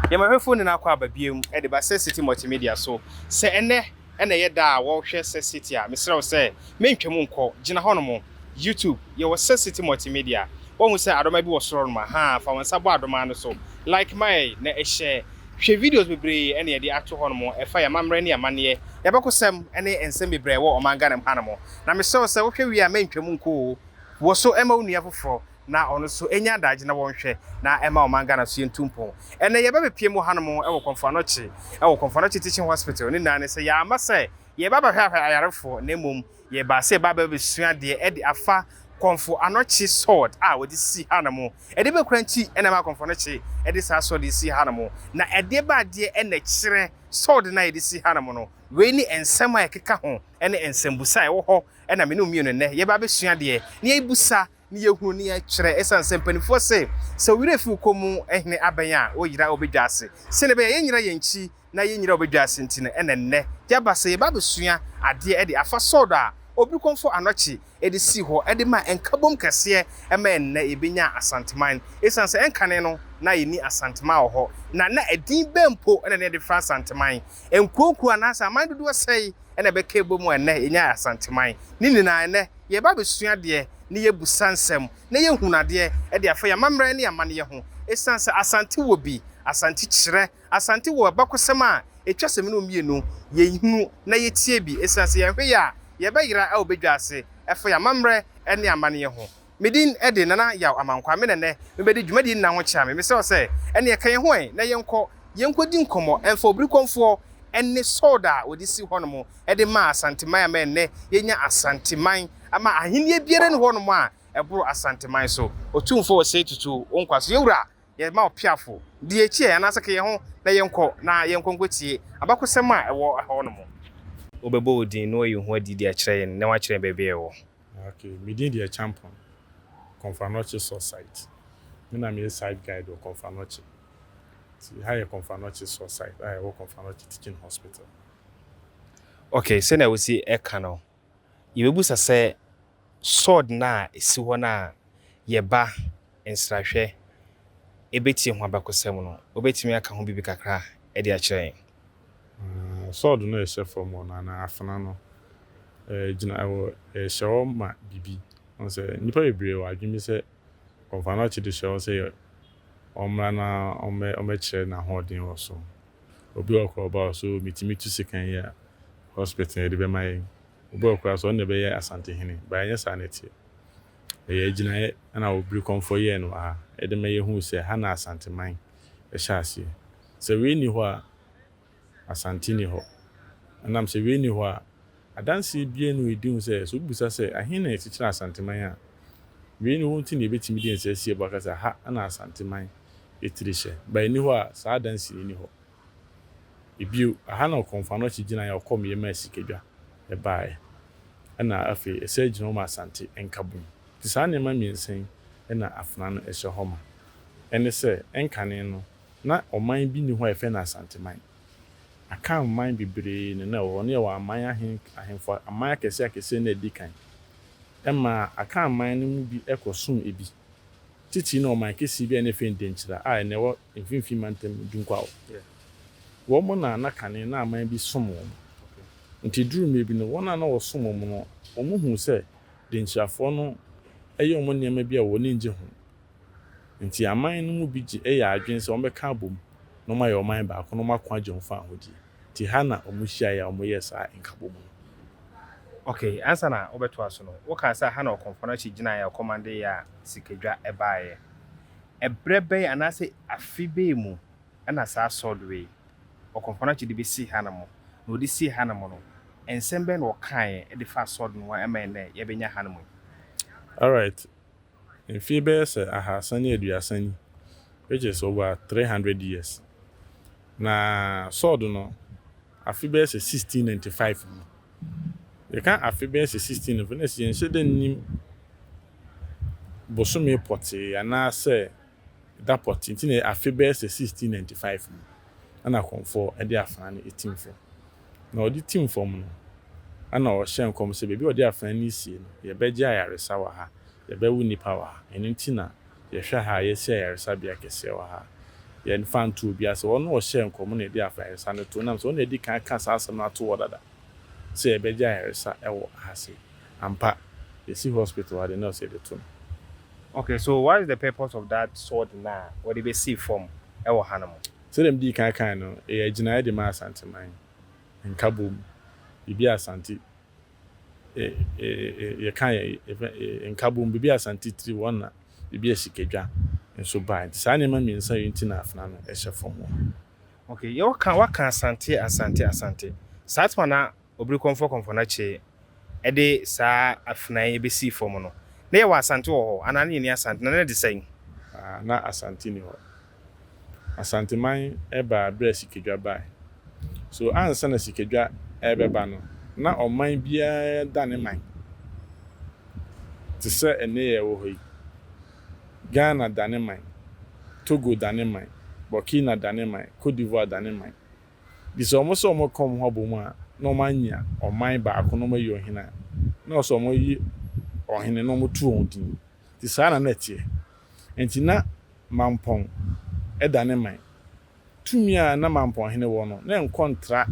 Yɛn bɛhwɛfo ne no akɔ aba biom de ba Sex City Multimedia so. Sɛ ɛnnɛ na ɛyɛ da a wɔhwɛ Sex City a, mesrɛ wo sɛ mentwam nkɔ. Gyina hɔnom. YouTube, yɛwɔ Sex City Multimedia. Woahu sɛ adɔma bi wɔ soro hɔnom? Ahaa, fa wo nsa bɔ adɔma no so. Like ma yɛn na hyɛ. Hwɛ videos bebree na yɛde ato hɔnom a ɛfa yɛn amammerɛ ne yɛn amanneɛ, yɛn abakɔsɛm ne nsɛm bebree a ɛwɔ ɔman Ghana mu hanom. Na mesrɛ wo sɛ wohwɛ wie a mentwam nkɔ oo. Wɔ so ma wo nua foforɔ. na ɔno nso ɛnya adagye na wɔnhwɛ na ɛma ɔman Ghana so yɛntu mpɔn. Ɛnnɛ yɛbɛbepie mu hanom wɔ Komfo Anokye wɔ Komfo Anokye Teaching Hospital, ne nyinaa ne sɛ yɛamma sɛ yɛreba abɛhwɛhwɛ ayarefoɔ na mmom yɛbaa sɛ yɛba abɛbɛsua adeɛ de afa Komfo Anokye Sword a wɔde si hanom. Ɛdeɛ bɛn koraa nti na ɛma Komfo Anokye de saa sword yi si hanom? Na ɛdeɛ bɛn adeɛ na ɛkyerɛ sword no a yɛde si hanom no? Wei ne nsɛm a ɛkeka ho ne nsɛmbusa a ɛwɔ hɔ na me ne wo mmienu nnɛ yɛba abɛsua adeɛ na yɛrebisa ne yɛhunu ne yɛkyerɛ ɛsiane sɛ mpanimfoɔ se, sɛ wo werɛ fi wo komm hene abɛn a, wo yera a wobɛdwa ase. Sɛdeɛ ɛbɛyɛ a yɛnyera yɛn nkyi na yɛnyera a wobɛdwa ase nti no ɛna nnɛ yɛaba sɛ yɛba abɛsua adeɛ de afa Sɔɔdɔ a ɔbi kɔmfɔ anɔkye de sii hɔ de maa nkabom kɛseɛ ɛma ɛnnɛ yɛbɛnya Asanteman. Ɛsiane sɛ ɛnkane no na yɛnni Asanteman wɔ hɔ na na ɛdin bɛn mpo na ne yɛde frɛ Asanteman? Nkuo nkuo anaasɛ aman dodoɔ sɛn? ɛna ɛbɛka ɛbom a ɛnnɛ yɛnyaa Asanteman. Ne nyinaa ɛnnɛ yɛreba abɛsua adeɛ ne yɛbusa nsɛm na yɛhunu adeɛ ɛde afa yɛn amammerɛ ne yɛn amanneɛ ho. Ɛsiane sɛ Asante wɔ bi, Asante kyerɛ, Asante wɔ abakɔsɛm a ɛtwa sɛ me ne wo mmienu yɛhunu na yɛtie bi. Ɛsiane sɛ yɛnhwɛ yie a yɛbɛyera wɔ badwa ase ɛfa yɛn amammerɛ ne amanneɛ ho. Me din de Nana Yaw Amankwa. Me na nnɛ mebɛdi dwumadie nna ho kyea me. Mesrɛ wo sɛ, ɛneɛ ka yɛn ho ɛ na yɛnkɔ, yɛnkɔdi nkɔmmɔ ɛmfa Obirikɔmfoɔ ne Sold a wɔde si hɔ nom de maa Asanteman ama ɛnnɛ yɛanya Asanteman ama ahennie biara nni hɔ nom a ɛboro Asanteman so. Otumfoɔ Osei Tutu wo nkwa so yɛwura, yɛma wo peafo, di yɛn akyi ɛ anaasɛ ka yɛn ho na yɛnkɔ na yɛnkɔ nkɔtie abakɔsɛm a ɛwɔ hɔ nom. Wobɛbɔ wo din na woayi wo ho adi de akyerɛ yɛn na woakyerɛ yɛn baabi a yɛwɔ. Ok, me din de Acheampong, Komfanoche Source Site. Me na meyɛ Site Guide wɔ Komfanoche. Nti ha yɛ Komfanoche Source Site a ɛwɔ Komfanoche Teaching Hospital. Ok, sɛnea wosi ɛka no, yɛbɛbusa sɛ sword no a ɛsi hɔ no a yɛba nsrahwɛ ɛbɛtie ho abakɔsɛm no, wobɛtumi aka ho biribi kakra de akyerɛ yɛn? Sɔɔd no ɛhyɛ fam hɔ no anaa afena no gyina ɛwɔ ɛhyɛ hɔ ma bibi wɔn sɛ nnipa bebree wɔ adwene bi sɛ wɔfa no ɔkye de hyɛ hɔ sɛ wɔmmra na wɔmmɛkyerɛ n'ahoɔden wɔ so obi wɔ kora ɔba hɔ so metumi tu sekan yi a hospital yɛde bɛma yɛn obi wɔ kora so ɔno na ɛbɛyɛ asantehene ba ɛnyɛ saa na ɛteɛ ɛyɛ agyinaeɛ ɛna obiri kɔmfoɔ yɛɛ no wɔ ha ɛde ma yɛhuu sɛ ha na asanteman ɛhyɛ aseɛ Sɛ wei nni hɔ a, Asante nni hɔ. Ɛnam sɛ wei nni hɔ a, adanseɛ biara nni hɔ a ɛdi ho sɛ, sɛ wobisa sɛ, ɛhe na yɛkyekyere Asanteman a, wei nni hɔ nti na yɛbɛtumi de yɛn nsa asi ɛbɔ aka sɛ, ha na Asanteman tiri hyɛ. Ba ɛnni hɔ a, saa adanseɛ no nni hɔ. Bio, ɛha na Ɔkɔmfanoakyi gyinaeɛ a ɔkɔmyɛ maa sikadwa baeɛ, ɛnna afei ɛsan gyina hɔ ma Asante nkabom. Nti saa nneɛma mmiɛnsa yi na afena no hyɛ hɔ ma. Ɛne sɛ, nkane no, Na ɔman bi nni hɔ a yɛfrɛ no Asanteman. Akan man bebree na na ɛwɔ hɔ. Na yɛwɔ aman ahe ahemfo aman akɛseɛ akɛseɛ na adi kan. Ɛmaa Akan man no mu bi kɔsom ebi. Titiri na ɔman kɛseɛ bi a na yɛfrɛ no Denkyira a ɛnnɛ ɛwɔ Mfimfini Mantam mu, Dunkwa hɔ. Wɔn na na kane na aman bi som wɔn. Nti ɛduruu mmerɛ bi no, wɔn a na wɔsom wɔn no, wɔhuu sɛ Denkyirafoɔ no yɛ wɔn nneɛma bi a wɔn ani gye ho. Enti aman no mu bi gye yɛ adwene sɛ wɔbɛka abom na wɔayɛ ɔman baako na wɔako agye wɔn fawohodie. Enti ha na wɔhyiaeɛ a wɔyɛɛ saa nkabom no. Ok, ansa na wobɛtoa so no, wokaa sɛ ha na Ɔkɔmfɔnakyi gyinaeɛ a ɔkɔmande yɛ a sikadwa baeɛ. Ɛberɛ bɛn anaasɛ afe bɛn mu na saa sword wei Ɔkɔmfɔnakyi de bɛsi hanom? Na ɔde sii hanom no, nsɛm bɛn na ɔkaeɛ de faa sword no ho a ɛma ɛnnɛ yɛbɛnya hanom yi? Alright, mfe bɛyɛ sɛ ahaasa ne aduasa ni, which is over three hundred years. Na Sɔɔd no, afe bɛyɛ sɛ sixteen ninety five mu. Yɛka afe bɛyɛ sɛ sixteen ninety five na sɛ yɛnhyɛ da nnim bosome pɔtee anaasɛ da pɔtee nti na afe bɛyɛ sɛ 1695 mu na na Kɔmfɔɔ de afena no retim fam. Na ɔde tim fam no, na na ɔhyɛ nkɔm sɛ, baabi a ɔde afena no resie no, yɛbɛgye ayaresa wɔ ha, yɛbɛwo nnipa wɔ ha, ɛno nti na yɛhwɛ ha a yɛasi ayaresabea kɛseɛ wɔ ha a yɛmfa nto obi ase. Ɔno a ɔhyɛɛ nkɔm no na yɛde ayaresa no too, ɛnam sɛ ɔno na adi kan aka saa asɛm no ato hɔ dada sɛ yɛbɛgye ayaresa wɔ ha sei. Ampa, yɛasi hospital ha deɛ na ɛwɔ sɛ yɛde to no. Okay, so what is the purpose of that sword no a wɔde bɛsii fam wɔ hanom? Sɛdeɛ medii kan kaeɛ no, ɛyɛ agyinaeɛ de ma Asanteman, Nkabom, biribi a Asante, yɛka yɛn Nkabom, biribi a Asante tiri wɔn na biribi a Sikadwa nso baeɛ. Nti saa nneɛma mmiɛnsa yi nti na afena no hyɛ fam wɔ ha. Okay, yɛwɔ ka, woaka Asante, Asante, Asante. Saa time no a Obiri Kɔmfɔkɔmfɔ no kyee de saa afenaa yi besii fam no, na yɛwɔ Asante wɔ hɔ anaa na yenni Asante, na na ɛte sɛn? A, na Asante nni hɔ. Asanteman baa bere a Sikadwa bae. So ansa na Sikadwa rebɛba no, na ɔman biara da ne man te sɛ ɛnnɛ yɛwɔ hɔ yi? Ghana da ne man, Togo da ne man, Burkina da ne man, Cote d'Ivoire da ne man. Nti sɛ wɔn sɛ wɔn bɛka wɔn ho abɔ mu a, na wɔn anya ɔman baako na wɔn ayi ɔhene a, na wɔn sɛ wɔn ayi ɔhene na wɔn to wɔn din. Nti saa na na ɛteɛ. Nti na Mampɔn da ne man. Tumi a na Mampɔn hene wɔ no, na ɛnkɔ ntra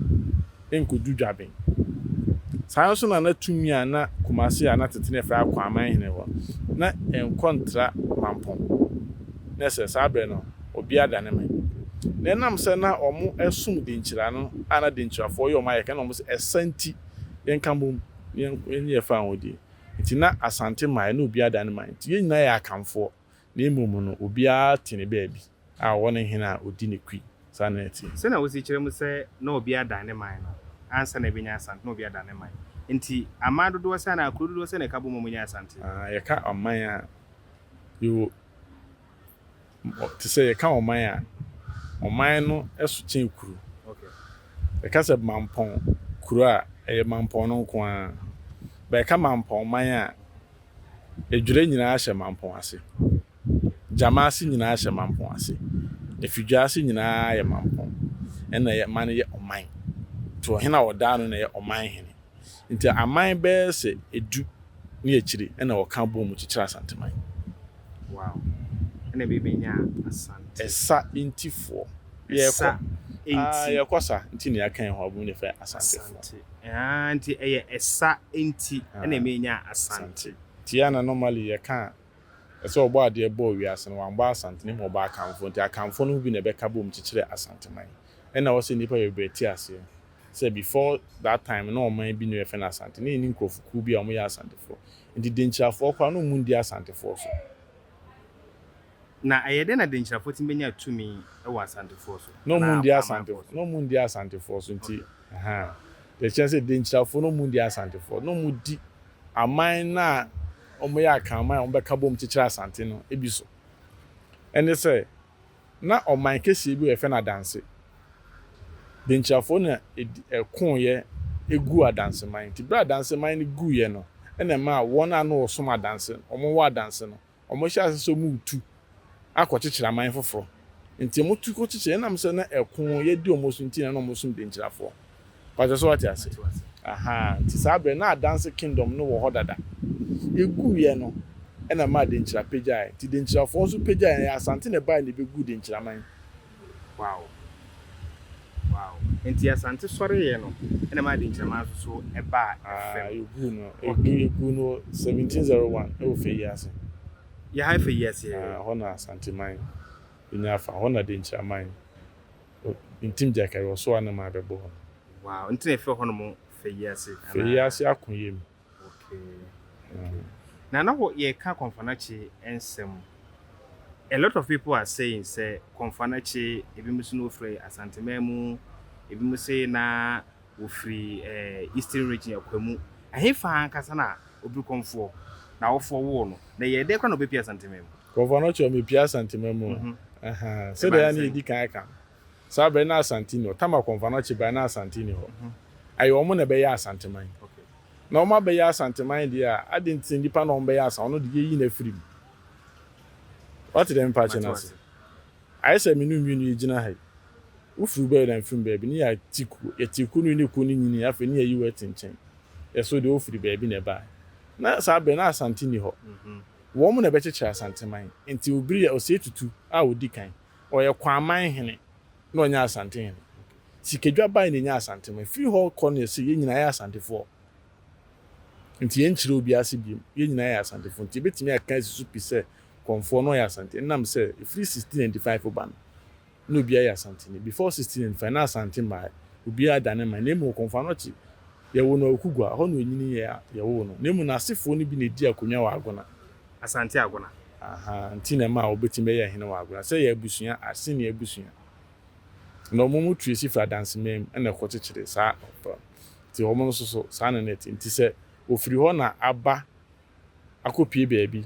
nkodu Dwaben. Saa ara nso na na tumi a na Kumase a na tete na yɛfrɛ Akwaaman hene wɔ no, na ɛnkɔ ntra Mampɔn. Na ɛsɛ saa berɛ no, ɔbia dane me. Na ɛnam sɛ na ɔmo ɛsom denkyira no a na denkyirafoɔ yɛ ɔmo ayɛka ɛna ɔmo se ɛsa nti yɛnka bom na yɛnye yɛfa ahodie nti na Asante man ɛna ɔbia dane man nti yɛn nyinaa yɛ Akanfoɔ na mmom no ɔbiara te ne baabi a ɔwɔ ne hene a ɔdi ne kui saa na ɛteɛ. Sɛnea wosi kyerɛ mu sɛ na ɔbia dane man no ansa na ɛbɛnya Asante na ɔbia dane man nti aman dodoɔ sɛ anaa kuro dodoɔ sɛ na ɛka bom a ɔmo yɛ Asante. Aah yɛka aman a yɛwɔ. Te sɛ yɛka ɔman a, ɔman no so kyɛn kuro. Yɛka sɛ mampɔn kuro a, ɛyɛ mampɔn no nko ara. But yɛka mampɔn man a, Adwira nyinaa hyɛ mampɔn ase. Gyamaase nyinaa hyɛ mampɔn ase. Afidwaase nyinaa yɛ mampɔn. Ɛna ɛma no yɛ ɔman. Nti ɔhene a ɔda ano na ɛyɛ ɔman hene. Enti aman bɛyɛ sɛ du ne akyiri na wɔka boom kyekyere Asanteman. Wow. Ɛna ɛbɛyɛ bɛnya Asante. Ɛsa ntifoɔ. Yɛkɔ. Ɛsa nti. Ah, yɛkɔ sa nti ne yɛaka yɛn ho abom ne fɛ Asantefoɔ. Asante. Ah, nti ɛyɛ ɛsa nti ɛna ah, ɛbɛnya Asante. Nti ɛna normally yɛka a, ɛsɛ ɔbɔ adeɛ bɔɔ wiase no, wambɔ Asante na mmom ɔbɔ Akanfoɔ. Nti Akanfoɔ no mu bi na ɛbɛka boom kyekyere Asanteman. Ɛna ɛwɔ sɛ nnipa bebree te aseɛ. sɛ before that time no na ɔman bi na yɛfrɛ no Asante na yɛnni nkurɔfokuo bi a wɔyɛ Asantefoɔ nti Denkyirafoɔ koraa na wɔmmu nndi Asantefoɔ so. Na ɛyɛ dɛn na Denkyirafoɔ tumi bɛnya tumi wɔ Asantefoɔ so Na wɔmmu anaa nndi Amanfoɔ Asante so? na wɔmmu nndi Asantefoɔ so nti ahaa deɛ ɛkyerɛ sɛ Denkyirafoɔ na wɔmmu nndi Asantefoɔ na wɔdi aman no a wɔyɛ Akanman a wɔbɛka bom kyekyere Asante no bi so ɛne sɛ Ná ɔman kesee bi a wɔfrɛ no Adanse Denkyirafoɔ na ɛdi, ɛkoeɛ guu Adanseman. Nti berɛ a Adanseman no guiɛ no na ɛmaa wɔn a na wɔsom Adanse, wɔn wɔ Adanse no, wɔhyɛɛ aseɛ sɛ wɔretu akɔkyekyere aman foforɔ. Nti wɔtu kɔkyekyere, ɛnam sɛ na ɛkoeɛ di wɔn so nti na na wɔsom Denkyirafoɔ. Pakyɛ so wate ase? Ahaa, nti saa berɛ na Adanse Kingdom no wɔ hɔ dada. Yɛguiɛ no na ɛmaa Denkyira pagyaeɛ, nti Denkyirafoɔ nso pagyaeɛ, ɛyɛ Asante na ɛbaeɛ na ɛbɛguu Denkyiraman. Wow. Wow. Nti Asante sɔreeɛ no na ɛmaa Denkyiraman nso so baa fam. Ahaa, yɛguu no, Okay. yɛguu no 1701 ɛwɔ Fayi ase. Yɛha Fayi ase. Ahaa, hɔ na Asanteman nyaa fa, hɔ na Denkyiraman O, ntim gya kari ɔso a na maa bɛ bɔ hɔ no. Wow, nti na efrɛ hɔ nom Fɛyiase anaa? Fɛyiase Akoyɛ mu. Okay, okay. Na na wɔ, yɛ ka Kɔnfanakye nsɛm. A lot of people are saying sɛ Kɔnfanakye, ebi mo se na ofiri Asanteman mu, ebi mo se na ofiri eh, Eastern Region, Akwamu. Ɛhe faa ankasa na obiri Kɔnfoɔ, na awofoɔ woo no? Na ɛyɛɛ dɛn koraa na obɛ pie Asanteman mu? Nkurɔfoɔ no kyerɛ me pie Asante ma mu Sɛdeɛ yɛ a na yɛdi kan ka no Saa berɛ na Asante nni hɔ Tama Kɔmfa no kye baeɛ na Asante nni hɔ Ɛyɛ wɔn na ɛbɛyɛɛ Asanteman Na wɔn abɛyɛ Asanteman deɛ a adɛn nti na nnipa na wɔbɛyɛ Asan Ɔno deɛ yɛyi no afiri mu Woate deɛ mepa kyɛ no ase? Ayɛ sɛ me ne wo mmienu yɛgyina ha yi Wofiri bɛɛ na mefiri baabi Ne yɛte kuo Yɛte kuo no wie ne kuo no nyinii Afei ne yɛayi wo ati nkyɛn Yɛ so deɛ wofiri baabi na ɛbaeɛ Na saa berɛ na Asante nni hɔ Wɔn na ɛbɛkyekyere Asanteman. Nti Obiri yɛ Osei Tutu a odi kan. Ɔyɛ Kwaman hene na ɔnyɛ Asante hene. Sikadwa bae na enyaa Asanteman. Efiri hɔ kɔ no yɛ sɛ yɛn nyinaa yɛ Asantefoɔ. Nti yɛnkyerɛ obiara ase biom. Yɛn nyinaa yɛ Asantefoɔ. Nti yɛbɛtumi aka asi so pi sɛ Kɔmfoɔ no ɔyɛ Asante. Ɛnam sɛ efiri 1695 ba no, na obiara yɛ Asanteni. Before sixteen and five, na Asante mmae, obiara da ne man, na mmom Okomfo Anokye, yɛwoo no Awukugua, ɛhɔ na onyinii yɛ a yɛwoo no, na mmom n'asefoɔ no bi na edii akonwa wɔ Agona. Asante Agona. Aha nti na ɛmaa obetumi bɛyɛɛ hene wɔ Agona. Sɛ yɛ abusua, Aseni abusua, na wɔn mu tu esi firi Adanseman mu na ɛkɔ kyekyere saa, nti wɔn nso so saa na na ɛte, nti sɛ ofiri hɔ na aba akɔpue baabi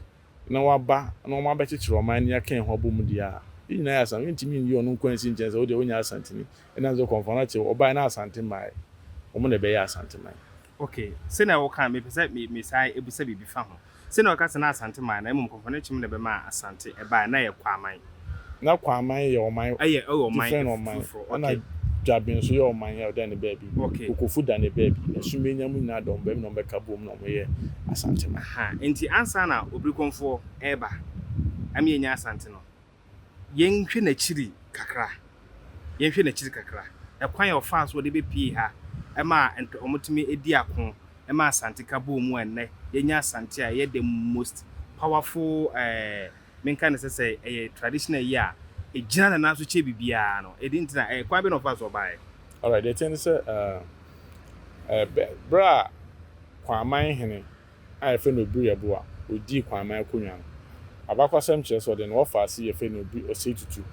na wɔaba na wɔabɛkyekyere ɔman ani aka yɛn ho abom deɛ a, yɛn nyinaa yɛ Asanteni. Yɛntumi nyi ɔno nko ara nsi nkyɛn sɛ wo deɛ wonyɛ Asanteni. Ɛnam sɛ Kɔmfoɔ no akyɛ wo, ɔbaeɛ na Asante mmaeɛ. Wɔn na ɛbɛyɛɛ Asanteman. Okay, sɛnea woka no, mepɛ sɛ mesan bisa biribi fa ho. Sɛnea woka sɛ na Asante mmaeɛ na mmom Kɔmfoɔ no kyem na ɛbɛmaa Asante ɛbaeɛ na ɛyɛ Kwaman. Na Kwaman yɛ ɔman different ɔman ɛna Dwaben nso yɛ ɔman yɛ ɔda ne baabi, Kokofu da ne baabi, Asumenya mu nyinaa dɔm baabi na ɔmo bɛka boom na ɔmo yɛ Asante man. Ahaa nti ansa na Obirikonfoɔ ɛɛba ama yɛn nya Asante no yɛn hwɛ n'akyiri kakra, yɛn hwɛ n'akyiri kakra, ɛkwan a ɔfaa so ɔde bɛ pie ha ɛma ɔmo tumi ɛdi ako ɛma Asante ka boom a ɛnnɛ yɛn nya Asante a ɛyɛ the most powerful ɛɛ. menka no sɛ sɛ ɛyɛ traditional yi a ɛgyina ne nan so kyɛ biribiara no ɛde nti na ɛkwan bɛ na ɔfa so ɔbaeɛ. Alright deɛ ɛteɛ ne sɛ ɛɛ bɛ berɛ a Kwaaman hene a yɛfrɛ no Obiri Abo a ɔdii Kwaaman akonwa no abakwasɛm kyerɛ sɛ ɔde ne wɔfaase yɛfrɛ no Obiri Osei Tutu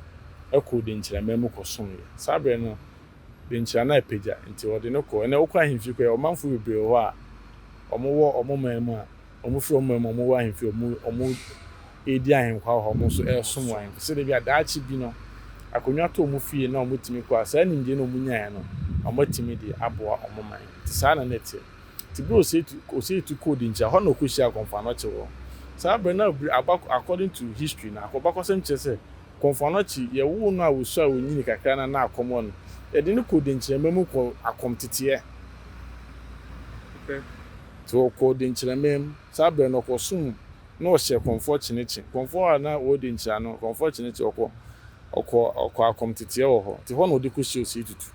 kɔɔ Denkyiraman mu kɔ someɛ saa berɛ no Denkyira no apagya nti ɔde no kɔɔ ɛnɛ wokɔ ahemfie koraa ɔmanfoɔ bebree wɔ hɔ a wɔn wɔ wɔn man mu a Wɔfiri wɔn mmamu a wɔwɔ ahemfie a wɔredi ahenkwa wɔ hɔ, wɔn nso resom wɔ ahemfie sɛdeɛ ɛbɛyɛ a daakye bi no akonnwa tɔ wɔn fie na wɔtumi kɔ a, saa nimdeɛ no a wɔnyaeɛ no, wɔatumi de aboa wɔn man. Nti saa na na ɛteɛ. Nti berɛ a Osei Osei Tutu kɔɔ Dinkyira, hɔ na ɔkɔhyiaa Kɔmfo Anokye wɔ. Saa berɛ no na aba according to history no, abakɔsɛm kyerɛ sɛ Kɔmfo Anokye, yɛwoo no a ɔsu a ɔnyini kakra no a na akɔm wɔ no, yɛde no kɔɔ Dinkyira mmamu kɔɔ akɔm teteɛ. Ntsi ɔkɔɔ denkyirɛmee mu. Saa ber no ɔkɔ sum mu na ɔhyɛ Kɔmfoɔ Kyenekye. Kɔmfoɔ a na ɔredi nkyira no, Kɔmfoɔ Kyenekye ɔkɔ ɔkɔ ɔkɔ akɔm tsetseɛ wɔ hɔ. Ntsi hɔ na ɔdze kɔhyia Osei Tutu.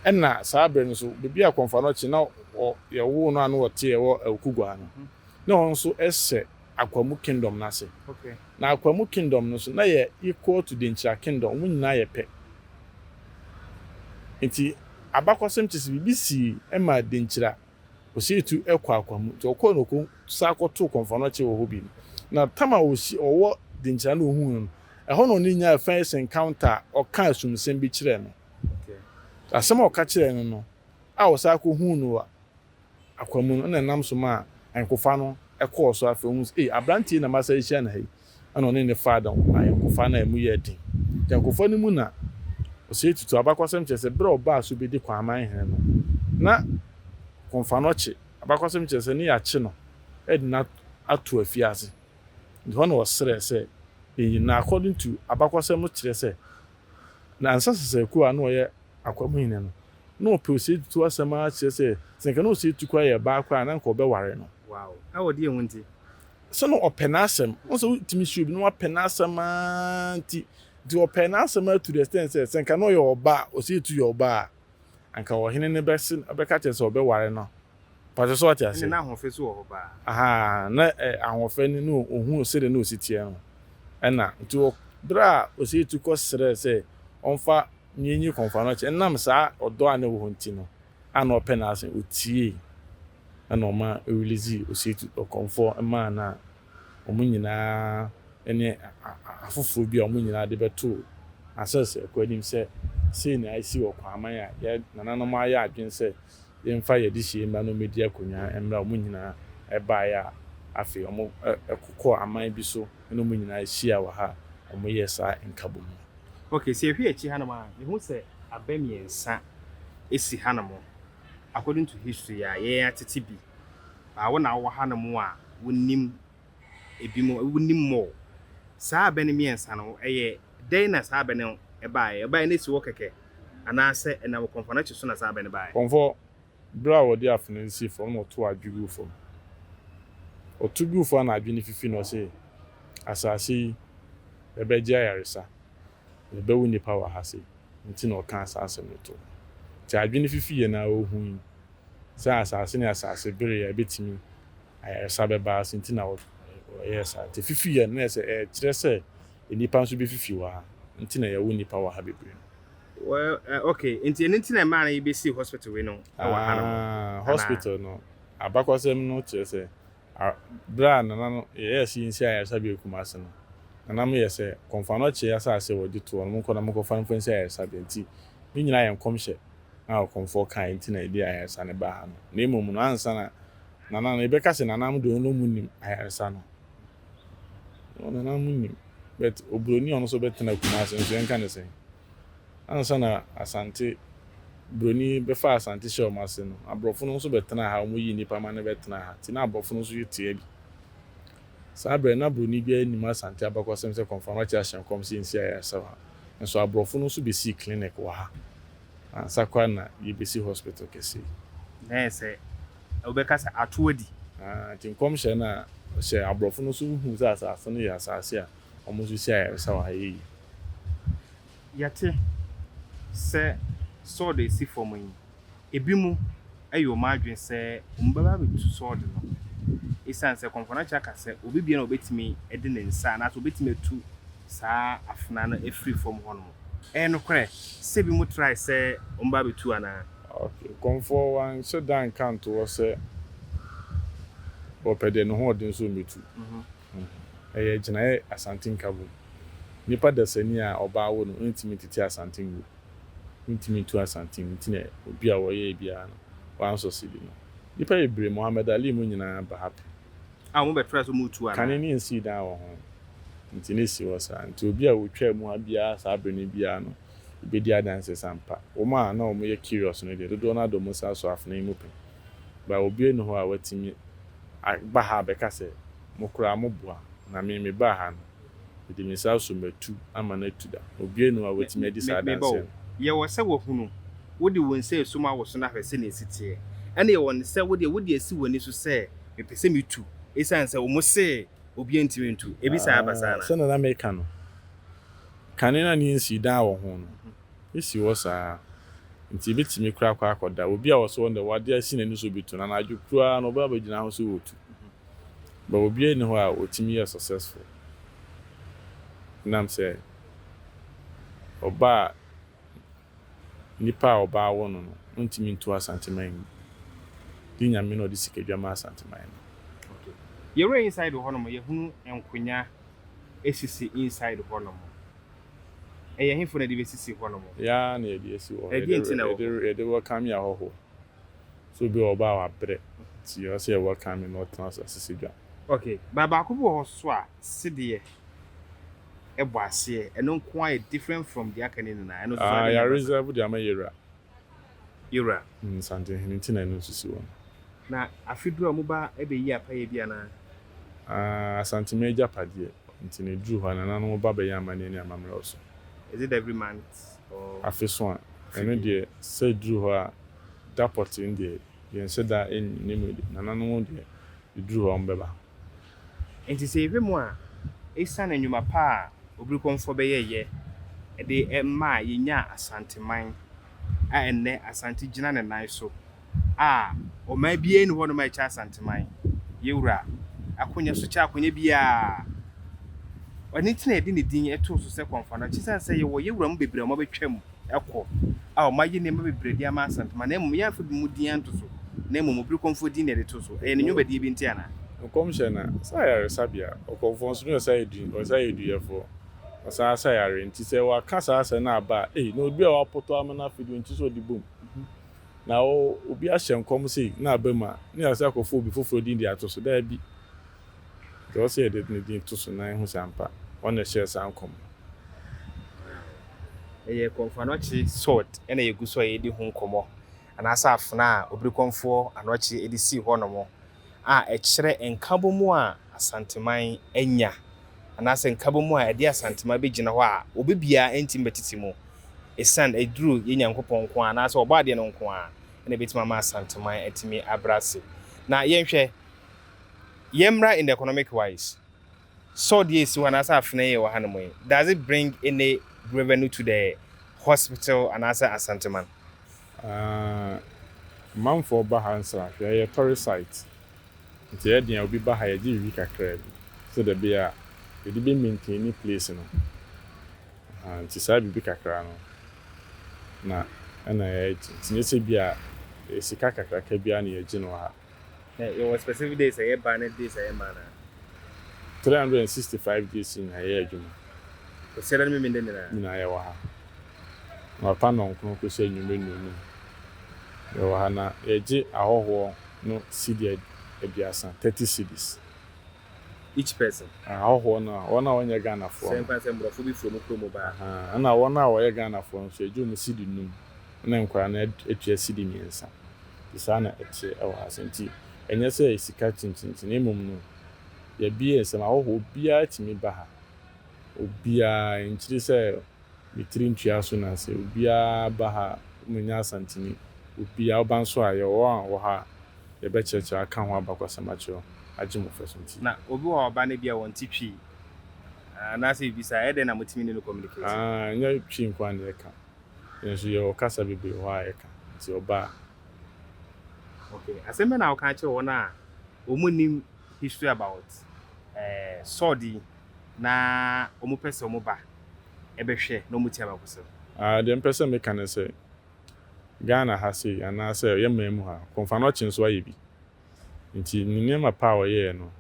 Nna saa ber no so beebi a Kɔmfoano kye na ɔ yɛwoo no a na ɔtse ɛwɔ Awukugwaa no. Nna hɔn so hyɛ Akwamu Kingdom no ase. Na Akwamu Kingdom no nso, na ɛyɛ equal to Denkyira Kingdom, wɔn nyinaa yɛ pɛ. Nti abakɔsɛm kyerɛ sɛ biribi sii ma Denkyira, ɔsii tu kɔɔ Akwamu. Nti ɔkɔɔ no ɔkɔsan kɔtoo Kɔmfoanɔkye wɔ hɔ bio. Na tam a ɔwɔ Denkyira na ɔhuu no no, ɛhɔ na ɔne no nyaa first encounter a ɔkaa asumsɛm bi kyerɛɛ no. Asɛm a ɔka kyerɛɛ no no a ɔsan kɔhuu no wɔ Akwanmu no, nna nam so maa ayɛnkofa no kɔɔ so. Afei ohun sɛ, 'Ei, aberante yi na masan ahyia no ha yi! Ɛnna ɔne no faa ayɔnkofa no a emu yɛɛ den. Ayɔnkofa no mu na ɔsɛe tutu. Abakɔsɛm kyerɛ sɛ bere a ɔbaa so bedi Kwaman hene no, na Komfanokye, abakɔsɛm kyerɛ sɛ ne yɛakye no de no ato afiase. Enti hɔ na ɔsrɛɛ sɛ yenyi no. According to abakɔsɛm no kyerɛ sɛ Na Ansah Sesayɛkuo a na ɔyɛ Akwamo hene no, na ɔpɛ Osei Tutu asɛm ara kyerɛ sɛ, sɛ anka na Osei Tutu koraa yɛ baa koraa a, na anka ɔbɛware no. Wow! Ɛwɔ deɛ ho nti? Sɛ na ɔpɛ n'asɛm. Wohu sɛ wotumi sua obi na wapɛ n'asɛm ara nti. Nti ɔpɛɛ n'asɛm ara to the extent sɛ, sɛ anka na ɔyɛ ɔbaa, Osei Tutu yɛ ɔbaa a, anka ɔhene no bɛse, bɛka akyerɛ no sɛ ɔbɛware no Mpakyɛ so wate ase. Ɛne na ahoɔfɛ so wɔ hɔ paa. Ahaa na ɛ ahoɔfɛ no ne ohu sɛdeɛ na osi teɛ no ɛna nti wɔ berɛ a osei tu kɔ srɛɛ sɛ ɔmfa nie nyi kɔmfoa no kyɛ nam saa ɔdɔ a na ɛwɔ hɔ nti no a na ɔpɛ n'asem otiee ɛna ɔma releasee osei tu ɔkɔmfoɔ maa no a wɔn nyinaa ɛne a a afoforɔ bi a wɔn nyinaa de bɛtoo asɛs ɛkɔ anim sɛ sei na esi wɔ Kwaaman a yɛ nananom ayɛ adwene sɛ yɛmfa yɛn adehyeɛ mma no mmɛdi akonnwa mmerɛ a wɔn nyinaa baeɛ a afei wɔkokɔɔ aman bi so ne wɔn nyinaa hyiaa wɔ ha a wɔyɛɛ saa nkabom no. Ok, sɛ yɛhwɛ akyi hanom a, yɛhu sɛ abɛ mmiɛnsa si hanom, according to history a yɛn atete bi, baa wo na wowɔ hanom a wonim. ebinom nim more. Saa bɛ no mmiɛnsa no, ɛyɛ dɛn na saa bɛ no baeɛ? Ɛbaeɛ no asi hɔ kɛkɛ anaasɛ ɛnam kɔmfoanakyi so na saa bɛ no baeɛ? Kɔmfoɔ, berɛ a wɔde afena nsie fam na ɔtoo adwe guu fam. Ɔto guu fam na adwe no fifi na ɔse, Asase yi, ɛbɛgye ayaresa, na ɛbɛwo nnipa wɔ ha sei nti na ɔkaa saa asɛm no too hɔ. Nti adwe no fifiiɛ no ara ɔhui sɛ asase ne asase bereɛ a ɛbɛtumi ayaresa bɛba ase nti na wɔyɛɛ saa. Nti fifi yɛ no na ɛsɛ ɛkyerɛ sɛ nnipa nso bɛfifi wɔ ha nti na yɛwo nnipa wɔ ha bebree no. Well eh okay nti ɛno nti na ɛmaa no yɛbɛsii hospital wei no wɔ ha nom Aah, anaa? hospital no abakɔsɛm no kyerɛ sɛ a berɛ a Nana no yɛyɛɛ sɛ yɛnsi ayaresabea Kumasi no, Nana mo yɛ sɛ Kɔmfoanɔkye asase a wɔgye toɔ no monkɔ na monkɔfa mfa nsi ayaresabea nti ne nyinaa yɛ nkɔmhyɛ a Ɔkɔmfoɔ kaeɛ nti na yɛde ayaresa no baa ha no na mmom no ansa na Nana no yɛbɛka sɛ nana mo deɛ ɔno ɔmo nim ayaresa no ɔmo nana mo nim but obroni ɔno nso bɛtena Kumase nso yɛnka ne sɛn ansa na Asante broni bɛfa Asante hyɛ ɔmo ase no aborɔfo no nso bɛtena ha ɔmo yi nnipa ma no bɛtena ha ti na aborɔfo no nso yɛ tia bi saa berɛ na broni biara nim Asante abakɔsɛm sɛ kɔnfamate ahyɛ nkɔm sɛ nsi ayaresa wɔ ha nso aborɔfo no nso bɛsii clinic wɔ ha Ansa koraa na yebesi hospital kɛse yi. Na ayɛ sɛ wobɛka sɛ ato adi. Aah, enti nkɔmhyɛ no a ɔhyɛɛ aborɔfo no nso hu sɛ asase no yɛ asase a wɔsisi ayaresa wɔ ha yɛ yi. Yɛte sɛ sɔɔd a esi fam yi, ebinom ayɛ wɔn adwene sɛ wɔbɛba abetu sɔɔd no esiane sɛ Kɔmfɔnakye aka sɛ obi biara na obetumi de ne nsa anaasɛ obetumi atu saa afena no afiri fam hɔnom. Ɛyɛ nokorɛ sɛ binom trae sɛ wɔbɛba abɛtu anaa? Ok, Kɔmfoɔ wanhyɛ da anka anto hɔ sɛ ɔpɛ deɛ ne ho ɔden sɛ ɔmmɛtu. Ɛyɛ gyinaeɛ Asante Nkabom. Nipa dasani a ɔbaa awo no ntumi ntete Asante ngu. Wontumi ntu Asante ngu nti na obi a ɔyɛɛ biara no, wansɔ sidi no. Nipa bebree, Mohammed Ali mu nyinaa ba ha pɛ. a wɔbɛtrae so mu tu anaa? Kane no nsii dan wɔ ho, enti na esi hɔ saa. Enti obi a otwaa mu ha biara saa bere no biara no bedi adanse sɛ ampa, wɔn a na wɔyɛ curious no deɛ, dodow no ara de wɔn nsa asɔ afenaa yi mu pɛn. But obiara nni hɔ a watumi aba ha abɛka sɛ, Mo koraa moboa, na me mebaa ha no, Mede me nsa asɔ m'atu ama no atu da. Obiara nni hɔ a obetumi adi saa adanse no. Yɛwɔ sɛ wɔahunu wo de wo nsa resu ma wo so na ahwɛ sɛnea esi teɛ. Ɛnna yɛwɔ no sɛ wo deɛ, wode asi w'ani so sɛ, Mepɛ sɛ mitu, esiane sɛ wɔse obiara ntumi ntu. Ebi saa ba saa anaa? Sɛnea na mereka no, kane no a na yensi dan wɔ ho no, esi hɔ saa ara. Enti yebetumi koraa akɔ akɔda. Obi a ɔso hɔ no deɛ, ɔde asi n'ani so rebetu, na anadwo koro ara no, ɔbɛba abegyina hɔ sɛ ɔretu. but obiara nni hɔ a otumi yɛ successful ɛnam sɛ ɔbaa nipa a ɔbaa awo no no ontumi ntu asanteman mu di nyame na ɔde sika dwa ma asanteman no. Okay yɛwura inside hɔ nom yɛhunu nkonya esisi inside hɔ nom ɛyɛ hefo na ɛde bɛsisi hɔ nom? Yɛa na yɛde asi hɔ yɛde yɛde welcome ahɔho. So obi wɔ hɔ ɔba a wabrɛ nti ɔsɛ yɛ welcome no na ɔtena ase asese dwa. Ok, by baako bi wɔ hɔ so a sedeɛ ɛbɔ aseɛ ɛno nko ara yɛ different from deɛ aka no nyinaa ɛno nso so Ah, yɛ reserve de ama Yewura. Yewura. Mm, Nsantehene nti na ɛno nso si hɔ no. Na afe duru a ɔmo ba ɛbɛyi apayɛ bi anaa? Ah, Asante m'agyapadeɛ nti na ɛduru hɔ a nananom ba bɛyɛ amaneɛ ne amammerɛ wɔ so. Is it every month? afeso a, ɛno deɛ sɛ ɛduru hɔ a, da pɔtee deɛ yɛnhyɛ da nni ne mu de, nananom deɛ ɛduru hɔ a wɔbɛba. Enti sɛ yɛhwɛ mu a, ɛsiane nnwuma pa a Obirikɔmfoɔ bɛyɛeɛ de maa yɛnyaa Asanteman a ɛnnɛ Asante gyina ne nan so a ɔman biara nni hɔnom a ɛkyɛ Asanteman. Yɛn Wura akonya so kyɛ akonya biara. Ɛno nti na yɛde ne din too so sɛ Kɔmfoanoakye esiane sɛ yɛwɔ Yɛn Wura mu bebree a wɔabɛtwam kɔ a wɔayɛ nneɛma bebree de ama Asanteman na mmom yɛamfa bi mu din anto so na mmom Obirikɔmfoɔ din na yɛde too so. Ɛyɛ ne nnwumadie bi nti anaa? Nkɔmhyɛ no sɛ ayaresabea, ɔkɔmfoɔ nso ne ɔsayɛduni, ɔsayɛduyɛfoɔ, ɔsan ara sa yare. Nti sɛ wɔaka saa asɛm no aba a, ei, na obi a wɔapoto ama no afedu nti sɛ ɔde bom. Na obi ahyɛ nkɔm sei na abam a, na yɛasɛ akɔfa obi foforɔ din de ato so? Daabi. Deɛ ɔsɛ yɛde ne din to so na yɛhu sɛ ampa ɔno na ɛhyɛɛ saa nkɔm no. Wow. Ɛyɛ kɔmfoɔ anɔkye sword na yɛgu so a yɛredi ho nkɔmmɔ, anaasɛ afena a obirikɔmfoɔ anɔkye de sii hɔnom. a ɛkyerɛ nkabɔmu a Asanteman anya anaasɛ nkabɔmu a ɛde Asanteman bɛgyina hɔ a obi biara ntumi bɛtete mu ɛsiane aduru yɛ Nyankopɔn nko ara anaasɛ ɔbɔ adeɛ no nko ara na ɛbɛtumi ama Asanteman atumi abrɛ ase. Na yɛnhwɛ, yɛmmra in the economic wise. Saw deɛ esi hɔ anaasɛ afenaa yi ɛwɔ ha nom yi does it bring any revenue to the hospital anaasɛ Asanteman? Aah amanfoɔ ba ha nsrahwɛ, ɛyɛ tourist site nti ɛyɛ den a obi ba ha yɛgye biribi kakraa bi sɛdeɛ ɛbɛyɛ a yɛde bɛ maintaini place no ahaa nti saa biribi kakra no na ɛna yɛgye nti nyɛ sɛ bi a ɛyɛ sika kakraka biara na yɛgye no wɔ ha. Na yɛwɔ specific days a yɛba ne days a yɛmma anaa? Three hundred and sixty five days nyinaa yɛyɛ adwuma. Kwasiada ne Memen da nyinaa? Nyinaa yɛwɔ ha. Anɔpa nnɔnkron kɔsi anwummerɛ nnɔnnum yɛwɔ ha na yɛgye ahɔhoɔ no cedi aduasa, thirty cedis. each person. Ah ahɔhoɔ no a wɔn a wɔnyɛ Ghanafoɔ no. Sɛ mpa sɛ mborɔfo bi firi ɔmo kuro mu ba. Ahaa ɛna wɔn a wɔyɛ Ghanafoɔ nso yɛgye ɔmo sidi num ɛna nkwadaa no atua sidi mmiɛnsa nti saa na ɛteɛ ɛwɔ ha sɛ nti ɛnyɛ sɛ sika kyinkyinkyin na mmom no yɛbie nsɛm ahɔhoɔ obiara tumi ba ha obiara nkyiri sɛ me tiri ntwea so na sɛ obiara ba ha a, wɔanya Asanteni. Obi a ɔba nso a, yɛwɔ wɔn a wɔwɔ ha a yɛbɛkyerɛkyerɛ aka ho abakwasɛm akyerɛ wɔn, agye mo fɛ so nti. Na obi wɔ hɔ a ɔba no ebia wɔn ti twi anaasɛ biribi saa a, ɛyɛ dɛn na motumi ne no communicate? Aah, ɛnyɛ twi nko ara na yɛka. Yɛn nso yɛwɔ kasa bebree wɔ hɔ a yɛka nti ɔba a. Okay, asɛm bɛn na woka kyerɛ wɔn a wɔnnim history about Saul di na ɔmo pɛ sɛ ɔmo ba ɛbɛ hwɛ na ɔmo tia me akosi no. Ah deɛ mpɛ sɛ me ka ne sɛ Ghana ha sei anaa sɛ yɛ man mu ha Komfanɔkye nso ayɛ bi nti ne nneɛma pa a ɔyɛɛ no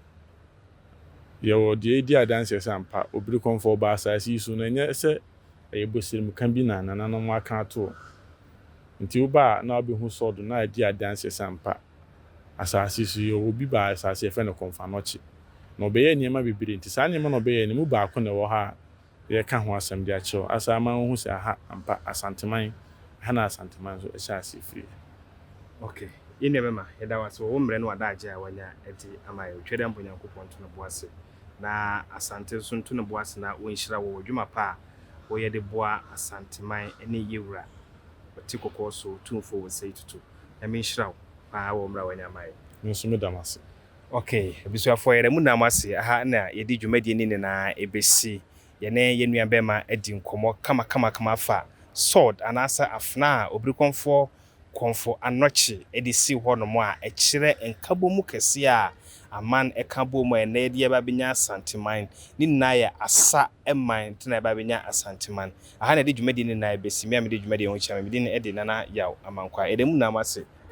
yɛ wɔ deɛ edi adanseɛ sɛ ampa obiri kɔmfɔ ɔbaa asaase yi so na ɛnyɛ sɛ ɛyɛ bosirem ka bi na nananom aka ato nti wo ba a na wabɛ hu Saul do na adi adanseɛ sɛ ampa Asase so yi, ɔwɔ bi baa asase a yɛfrɛ no Konfanoche, na ɔbɛyɛɛ nneɛma bebree. Nti saa nneɛma no a ɔbɛyɛe no mu baako na ɛwɔ ha a yɛreka ho asɛm de akyerɛ wo asa ama woahu sɛ aha ampa Asanteman, ɛha na Asanteman nso hyɛɛ aseɛ firiiɛ. Ok, yɛn nua bɛma, yɛda wo ase wɔ wo mmerɛ ne w'adagyeɛ a woanya de ama yɛn. Otwa Adambɔ Nyankopɔn nto ne bo ase, na Asante nso nto ne bo ase na ɔnhyira wo wɔ adwuma pa a woyɛ de boa Asanteman ne yɛwura ɔte kɔkɔɔ so tumfoɔ Osei Tutu. Nyame nhyira wo paa wɔ mmra wanya ama yɛn. Me nso meda mo ase. Ok abusuafoɔ yɛda mo nyinaa ase aha na yɛde dwumadie no nyinaa ɛbɛsi yɛne yɛn nua bɛɛma adi nkɔmmɔ kamakamakama afa sword anaasɛ afena a obirikɔnfoɔ kɔnfo anɔkye ɛde si hɔ nom a ɛkyerɛ nkabɔmu kɛseɛ a aman ɛka bɔɔ mu a ɛnɛ yɛde yɛba abɛnya asanteman ne nyinaa yɛ asa man nti na yɛba abɛnya asanteman Aha na yɛde dwumadi no nyinaa besi. Me a mede dwumadi yi ho kyerɛ no, me din de Nana Yaw Amankwah. Yɛda mo nyinaa mo ase